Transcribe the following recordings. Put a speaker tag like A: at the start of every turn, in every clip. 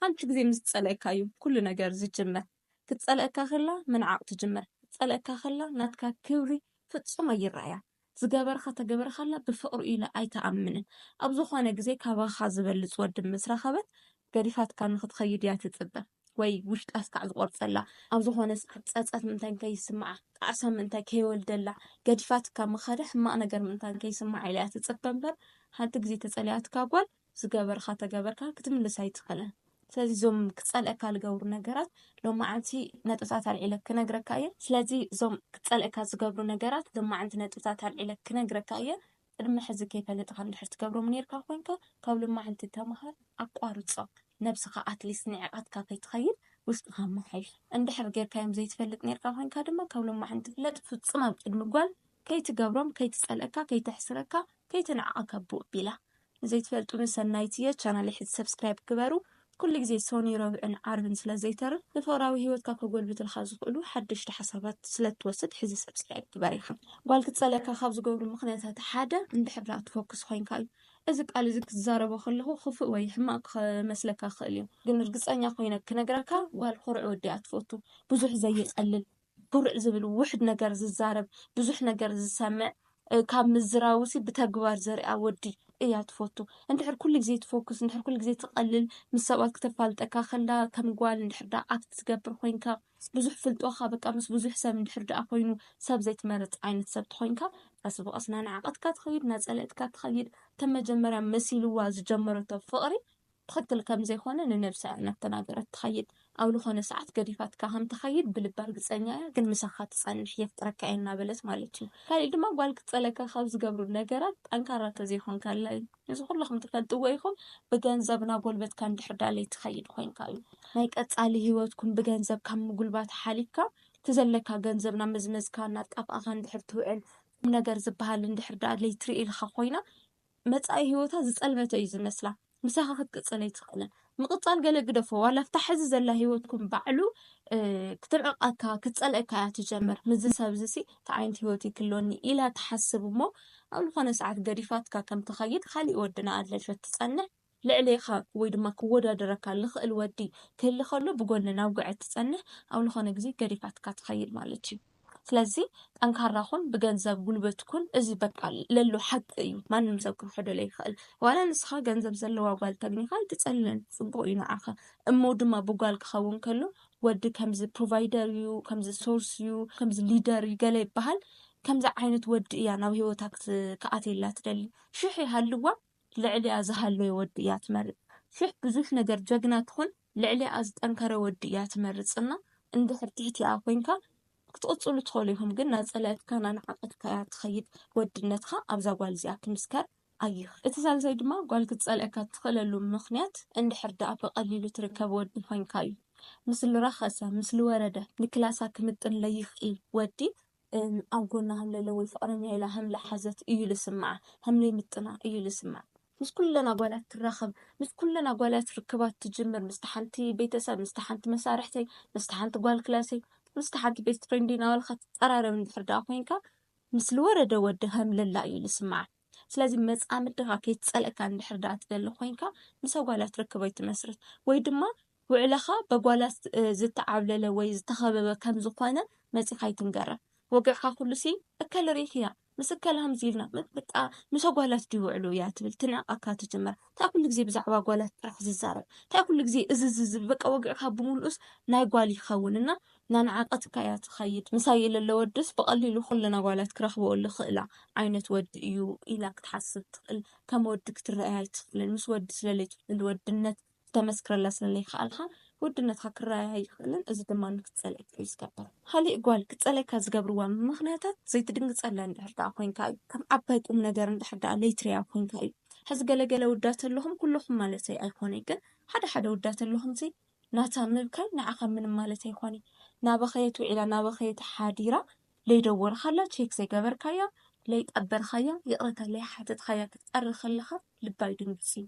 A: ሓንቲ ግዜ ምስ ትጸልኣካ እዩ ኩሉ ነገር ዝጅመር ክትጸልኣካ ከላ ምንዓቅ ትጅምር ክትጸልኣካ ከላ ናትካ ክብሪ ፍጹም ኣይረኣያን ዝገበርኻ ተገበርካላ ብፍቅሪ ኢላ ኣይትኣምንን ኣብ ዝኾነ ግዜ ካባኻ ዝበልጽ ወዲ ምስ ረኸበት ገዲፋትካ ንኽትኸይድ እያ ትጽበ ወይ ውሽጣ ስካዕ ዝቆርጸላ ኣብ ዝኾነ ሰዓት ጸጸት ምንታይ ከይስምዓ ጣዕሳ ምንታይ ከይወልደላ ገዲፋትካ ምኸደ ሕማቅ ነገር ምንታይ ከይስምዓ ኢላ እያ ትጽበ እምበር ሓንቲ ግዜ ተጸልያትካ ጓል ዝገበርካ ተገበርካ ክትምልስ ኣይትኽእልን። ስለዚ እዞም ክጸልእካ ዝገብሩ ነገራት ሎማዓንቲ ነጥብታት ኣልዒለ ክነግረካ እየ። ስለዚ እዞም ክጸልእካ ዝገብሩ ነገራት ሎማዓንቲ ነጥብታት ኣልዒለ ክነግረካ እየ። ቅድሚ ሕዚ ከይፈለጥኻ እንድሕር ትገብሮም ኔርካ ኮንካ ካብ ሎማዓንቲ ተማሃር ኣቋርጾም። ነብስኻ ኣትሊስት ንዒቓትካ ከይትኸይድ ውሽጥኻ ኣመሓይሽ። እንድሕር ጌርካዮም ዘይትፈልጥ ኔርካ ኮንካ ድማ ካብ ሎማዓንቲ ፍለጥ ፍጹም ኣብ ቅድሚ ጓል ከይትገብሮም ከይትጸልእካ ከይተሕስረካ ከይትንዕቀካ ብኡ ኣቢላ። ንዘይትፈልጡኒ ሰናይት እየ ቻናለይ ሕዚ ሰብስክራይብ ግበሩ ኩሉ ግዜ ሶኑይ ረቡዕን ዓርብን ስለ ዘይተርፍ ንፍቕራዊ ሂወትካ ከጎልብትልካ ዝኽእሉ ሓደሽቲ ሓሳባት ስለ እትወስድ ሕዚ ሰብስክራይብ ግበር ኢኻ። ጓል ክትጸልእካ ካብ ዝገብሩ ምኽንያታት ሓደ እንድሕር ደኣ ትፎክስ ኮይንካ እዩ። እዚ ቃል እዚ ክትዛረቦ ከለኹ ክፉእ ወይ ሕማቕ ክመስለካ ይኽእል እዩ ግን ርግጸኛ ኮይነ ክነግረካ ጓል ኩሩዕ ወዲ እያ ትፈቱ ብዙሕ ዘየጸልል። ኩርዕ ዝብል ውሕድ ነገር ዝዛረብ ብዙሕ ነገር ዝሰምዕ ካብ ምዝራቡሲ ብተግባር ዘርኣ ወዲ እያ ትፈቱ እንድሕር ኩሉ ግዜ ትፎክስ እንድሕር ኩሉ ግዜ ትቐልል ምስ ሰባት ክተፋልጠካ ከላ ከም ጓል እንድሕር ደኣ ኣክት ትገብር ኮይንካ ብዙሕ ፍልጦኻ በቃ ምስ ብዙሕ ሰብ እንድሕር ደኣ ኮይኑ ሰብ ዘይትመርጽ ዓይነት ሰብ ተኾይንካ ቀስ ብቐስ ናናዓቐትካ ትኸይድ ናጸለእትካ ትኸይድ ከም መጀመርያ መሲልዋ ዝጀመረቶ ፍቕሪ ትኽክል ከም ዘይኮነ ንነብሳ እያ እናተናገረት ትኸይድ ኣብ ልኾነ ሰዓት ገዲፋትካ ከም ትኸይድ ብልባ ርግጸኛ እያ ግን ምሳኻ ትጸንሕ የፍቅረካ እየ እናበለት ማለት እዩ ካሊእ ድማ ጓል ክትጸለካ ካብ ዝገብሩ ነገራት ጠንካራ ተዘይኮንካላ እዩ እዚ ኩልኹም ትፈልጥዎ ኢኹም ብገንዘብ ናጎልበትካ እንድሕር ዳለይ ትኸይድ ኮይንካ እዩ ናይ ቀጻሊ ሂወትኩም ብገንዘብ ካብ ምጉልባት ሓሊፍካ እቲ ዘለካ ገንዘብ ናብ መዝመዝካ እናጣፍኣኻ እንድሕር ትውዕል ቁምነገር ዝበሃል እንድሕር ደኣ ለይትርኢ ኢልኻ ኮይና መጻኢ ሂወታ ዝጸልመተ እዩ ዝመስላ ምሳኻ ክትቅጽል ኣይትኽእልን ምቕጻል ገለ ግደፎ ዋላ ኣብታ ሕዚ ዘላ ሂወትኩም ባዕሉ ክትንዕቐካ ክትጸልእካ እያ ትጀምር ምዚ ሰብ እዚ ሲ እንታይ ዓይነት ሂወት እዩ ክህልወኒ ኢላ ትሓስብ እሞ ኣብ ዝኾነ ሰዓት ገዲፋትካ ከም ትኸይድ ካሊእ ወድና ኣለልፈት ትጸንሕ ልዕሌኻ ወይ ድማ ክወዳደረካ ልኽእል ወዲ ክህሊ ከሎ ብጎኒ ናብ ጉዕት ትጸንሕ ኣብ ልኾነ ግዜ ገዲፋትካ ትኸይድ ማለት እዩ ስለዚ ጠንካራ ኩን ብገንዘብ ጉልበት ኩን እዚ በቃ ለሎ ሓቂ እዩ ማንም ሰብ ክኽሕዶ ለይኽእል ዋላ ንስኻ ገንዘብ ዘለዋ ጓል ተግኒኻ ኣይትጸልለን ጽቡቕ እዩ ንዓኻ እሞ ድማ ብጓል ክኸውን ከሎ ወዲ ከምዚ ፕሮቫይደር እዩ ከምዚ ሶርስ እዩ ከምዚ ሊደር እዩ ገለ ይበሃል ከምዚ ዓይነት ወዲ እያ ናብ ሂወታ ክትኣትየላ ትደሊ ሽሕ ይሃልዋ ልዕሊኣ ዝሃለወ ወዲ እያ ትመርጽ ሽሕ ብዙሕ ነገር ጀግና ትኹን ልዕሊኣ ዝጠንከረ ወዲ እያ ትመርጽ እና እንድሕር ትሕቲኣ ኮንካ ክትቕጽሉ ትኸሉ ኢኹም ግን ናጸላኢትካ ናንዓቐትካ እያ ትኸይድ ወድነትካ ኣብዛ ጓል እዚኣ ክምስከር ኣይኽ እቲ ሳልሳይ ድማ ጓል ክትጸልእካ ትኽእለሉ ምኽንያት እንድሕር ድኣ ብቐሊሉ ትርከብ ወዲ ኮንካ እዩ ምስ ልረኸሰ ምስ ልወረደ ንክላሳ ክምጥን ለይኽእል ወዲ እም ኣብ ጎና ሃም ለለ ወይ ፍቅረኛይ ኢላ ሃም ለሓዘት እዩ ልስምዓ ሃም ለይምጥና እዩ ልስምዓ። ምስ ኩለን ኣጓላት ትራኸብ ምስ ኩለን ኣጓላት ርክባት ትጅምር ምስታ ሓንቲ ቤተሰብ ምስታ ሓንቲ መሳርሕተይ ምስታ ሓንቲ ጓል ክላሰይ ምስታ ሓንቲ ቤስት ፍሬንደይ ናበልካ ትቀራረብ እንድሕር ደኣ ኮይንካ ምስ ልወረደ ወዲ ሃም ለላ እዩ ልስምዓ። ስለዚ መጻምድኻ ከይትጸልእካ እንድሕር ደኣ ትደሊ ኮይንካ ምስ ኣጓላት ርክብ ኣይትመስርት ወይ ድማ ውዕለኻ በጓላት ዝተዓብለለ ወይ ዝተኸበበ ከም ዝኾነ መጺኻ ኣይትንገራ ወግዕካ ኩሉሲ እከለ ርኢኽያ ምስ እከለ ከምዚ ኢልና በቃ ምስ ኣጓላት ድዩ ውዕሉ እያ ትብል ትንዕቀካ ትጅምር እንታይ ኩሉ ግዜ ብዛዕባ ኣጓላት ጥራሕ ዝዛረብ እንታይ ኩሉ ግዜ እዚ ዝብል በቃ ወግዕካ ብምሉኡስ ናይ ጓል ይኸውን እና እናነዓቀትካ እያ ትኸይድ። ምሳይ ለሎ ወድስ ብቐሊሉ ኩለን ኣጓላት ክረኽበኦ ልኽእላ ዓይነት ወዲ እዩ ኢላ ክትሓስብ ትኽእል። ከም ወዲ ክትረኣይ ኣይትኽልን። ምስ ወዲ ስለለይትውዕል ወድነት ክተመስክረላ ስለለይከኣልካ ወድነትካ ክረኣይ ኣይኽእልን። እዚ ድማ ንክትጸልኣካ እዩ ዝገብር። ኻሊእ ጓል ክትጸልኣካ ዝገብርዋ ምኽንያታት ዘይትድንግጸላ እንድሕር ደኣ ኮይንካ እዩ። ከም ዓባይ ቁምነገር እንድሕር ደኣ ለይትርእያ ኮይንካ እዩ። ሕዚ ገለ ገለ ውዳት ኣለኹም፣ ኩለኹም ማለተይ ኣይኮነይ ግን ሓደ ሓደ ውዳት ኣለኹምሲ ናታ ምብካይ ንዓኻ ምንም ማለት ኣይኾንይ ናበኸየት ውዒላ ናበኸየት ሓዲራ ለይደወልኻላ ቼክ ዘይገበርካያ ለይቀበርኻያ ይቕረታ ለይሓተትኻያ ክትቀሪ ከለኻ ልባ ይድንግጽ እዩ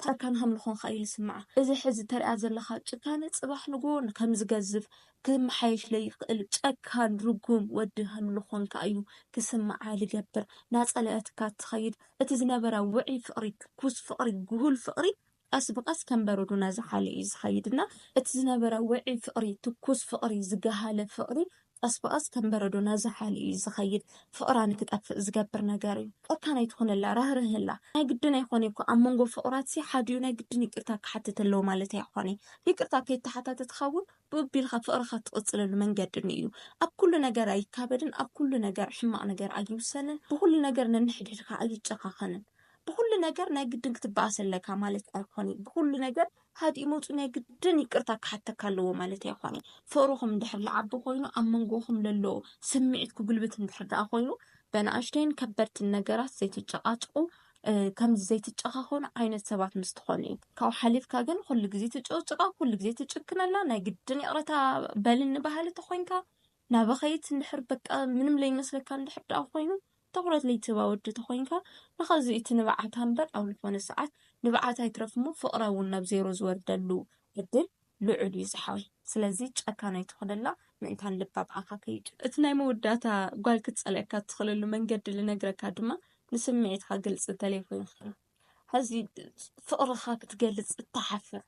A: ታርካን ሃምልኾንካ እዩ ልስምዓ እዚ ሕዚ ተርእያ ዘለኻ ጭካነ ጽባሕ ንግሆ ከምዝገዝፍ ክመሓየሽ ለይኽእል ጨካን ርጉም ወዲ ሃምልኾንካ እዩ ክስምዓ ልገብር ናጸለኣትካ ትኸይድ እቲ ዝነበራ ውዑይ ፍቕሪ ትኩስ ፍቕሪ ግሁል ፍቕሪ ቀስ ብቀስ ከም በረዶ ናዝሓለ እዩ ዝኸይድ እና እቲ ዝነበረ ውዑይ ፍቅሪ ትኩስ ፍቅሪ ዝገሃለ ፍቅሪ ቀስ ብቀስ ከም በረዶ ናዝሓለ እዩ ዝኸይድ ፍቅራ ንክጠፍእ ዝገብር ነገር እዩ ጨካን ኣይትኹነላ ራህርህላ ናይ ግድን ኣይኾነ እኮ ኣብ መንጎ ፍቅራት ሲ ሓዲኡ ናይ ግድን ይቅርታ ክሓትት ኣለዎ ማለት ኣይኾነ ይቅርታ ከይተሓታተትካ እውን ብኡቢልካ ፍቅርካ ትቅፅለሉ መንገዲ እዩ ኣብ ኩሉ ነገር ኣይካበድን ኣብ ኩሉ ነገር ሕማቅ ነገር ኣይውሰንን ብኩሉ ነገር ነንሕድሕድካ ኣይጨካኸንን ብኹሉ ነገር ናይ ግድን ክትበኣስ ኣለካ ማለት ኣይኮነን። ብኹሉ ነገር ሃዲኡ መፁ ናይ ግድን ይቅርታ ክሓተካ ኣለዎ ማለት ኣይኮነን። ፍቅርኹም እንድሕር ልዓቢ ኮይኑ ኣብ መንጎኹም ለሎ ስምዒት ክጉልብት እንድሕር ደኣ ኮይኑ በናእሽተይን ከበድትን ነገራት ዘይትጨቃጭቁ ከምዚ ዘይትጨኻኸኑ ዓይነት ሰባት ምስ ትኾኑ እዩ። ካብኡ ሓሊፍካ ግን ኩሉ ግዜ ትጭቕጭቃ፣ ኩሉ ግዜ ትጭክነላ፣ ናይ ግድን ይቕረታ በልኒ በሃሊ ተኾይንካ ናበኸይት እንድሕር በቃ ምንም ለይመስለካ እንድሕር ደኣ ኮይኑ ትኹረት ለይትህባ ወዲ ተኾይንካ ንኸዚ እቲ ንብዓታ እምበር ኣብ ልኾነ ሰዓት ንብዓታ ይትረፍ እሞ ፍቕራ እውን ናብ ዜሮ ዝወርደሉ ዕድል ልዑል እዩ ዝሓወይ ስለዚ ጨካን ኣይትኹነላ ምእንታን ልባ ብኣኻ ከይድ እቲ ናይ መወዳእታ ጓል ክትጸልኣካ እትኽእለሉ መንገዲ ልነግረካ ድማ ንስምዒትካ ግልጺ እንተለይኮይንካ ሐዚ ፍቕርኻ ክትገልጽ እትሓፍር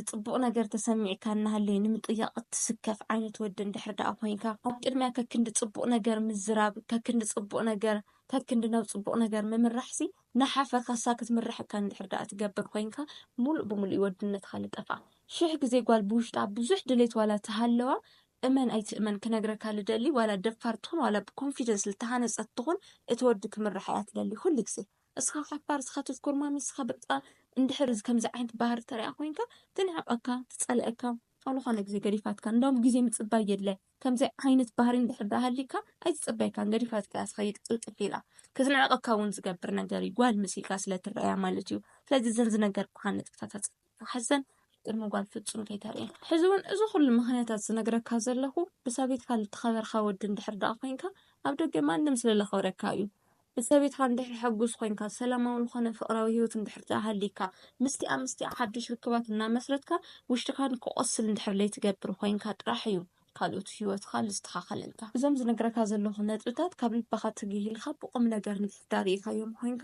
A: ፅቡቕ ነገር ተሰሚዕካ እናሃለየ ንምጥያቕ እትስከፍ ዓይነት ወዲ እንድሕር ደኣ ኮይንካ ኣብ ቅድሚያ ከክንዲ ፅቡቕ ነገር ምዝራብ ከክንዲ ፅቡቕ ነገር ከክንዲ ናብ ፅቡቕ ነገር ምምራሕሲ ንሓፈካሳ ክትምራሕ እካ እንድሕር ደኣ ትገብር ኮይንካ ሙሉእ ብሙሉእ እዩ ወድነትካ ልጠፍኣ ሽሕ ግዜ ጓል ብውሽጣ ብዙሕ ድሌት ዋላ ተሃለዋ እመን ኣይትእመን ክነግረካ ልደሊ ዋላ ደፋር ትኹን ዋላ ብኮንፊደንስ ልተሃነፀት ትኹን እቲ ወዲ ክምራሕ እያ ትደሊ ኩሉ ግዜ እስኻ ሓፋር እስኻ ተስኮርማሚ እስኻ በቃ እንድሕር ከምዚ ዓይነት ባህሪ ተሪኣ ኮይንካ ትንዕቀካ ትጸልኣካ ኣብ ዝኾነ ግዜ ገዲፋትካ እንዳውም ግዜ ምጽባይ የድለ ከምዚ ዓይነት ባህሪ እንድሕር ዳሃሊካ ኣይትጽበየካን ገዲፋትካ እያ ትኸይድ ቅልጥፍ ኢላ ክትንዕቀካ እውን ዝገብር ነገር እዩ ጓል መሲልካ ስለ ትረኣያ ማለት እዩ ስለዚ ዘንዚ ነገር ኩሓ ነጥብታታት ክሕሰን ቅድሚ ጓል ፍጹም ከይተርእየ። ሕዚ ውን እዚ ኩሉ ምኽንያታት ዝነግረካ ዘለኹ ብሰበይትካ ልተኸበርካ ወዲ እንድሕር ድኣ ኮይንካ ኣብ ደገ ማንም ስለ ለኽብረካ እዩ። ብሰበይትካ እንድሕር ሕጉስ ኮይንካ ሰላማዊ ልኾነ ፍቕራዊ ሂወት እንድሕር ድኣ ሃልይካ ምስቲኣ ምስቲኣ ሓዱሽ ርክባት እናመስረትካ ውሽጥካ ንክቆስል እንድሕር ለይትገብር ኮይንካ ጥራሕ እዩ ካልኦት ሂወትካ ልስተኻኸለልካ። እዞም ዝነግረካ ዘለኹ ነጥብታት ካብ ልብኻ ትግህ ኢልካ ብቁምነገር እንድሕር ድኣ ሪኢካዮም ኮይንካ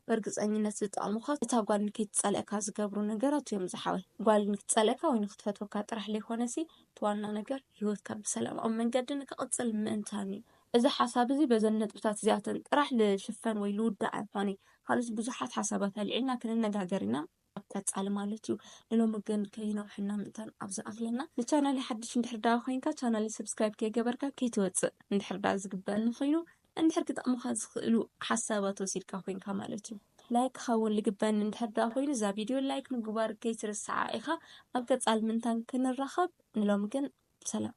A: በርግጸኝነት ዝጠቕሙኻ እታ ጓል ንከይትጸልእካ ዝገብሩ ነገራት እዮም ዝሓወይ ጓል ንክትጸልእካ ወይ ንክትፈትወካ ጥራሕ ለይኮነሲ እቲ ዋና ነገር ሂወትካ ብሰላማዊ መንገዲ ንክቕጽል ምእንታን እዩ። እዚ ሓሳብ እዚ በዘን ነጥብታት እዚኣተን ጥራሕ ልሽፈን ወይ ልውዳእ ኣይኾነይ ካልኦት ብዙሓት ሓሳባት ኣልዒልና ክንነጋገር ኢና። ኣብ ቀፃሊ ማለት እዩ። ንሎሚ ግን ከይነውሐና ምእንታን ኣብ ዝኣኽለና ንቻናለይ ሓድሽ እንድሕር ዳኣ ኮይንካ ቻናለይ ሰብስክራይብ ከይገበርካ ከይትወፅእ እንድሕር ዳኣ ዝግበኣኒ ኮይኑ እንድሕር ክጠቕሙኻ ዝኽእሉ ሓሳባት ወሲድካ ኮይንካ ማለት እዩ። ላይክ ክኸውን ልግበኒ እንድሕር ዳኣ ኮይኑ እዛ ቪድዮ ላይክ ምግባር ከይትርስዓ ኢኻ። ኣብ ቀፃሊ ምእንታን ክንራኸብ ንሎሚ ግን ሰላም።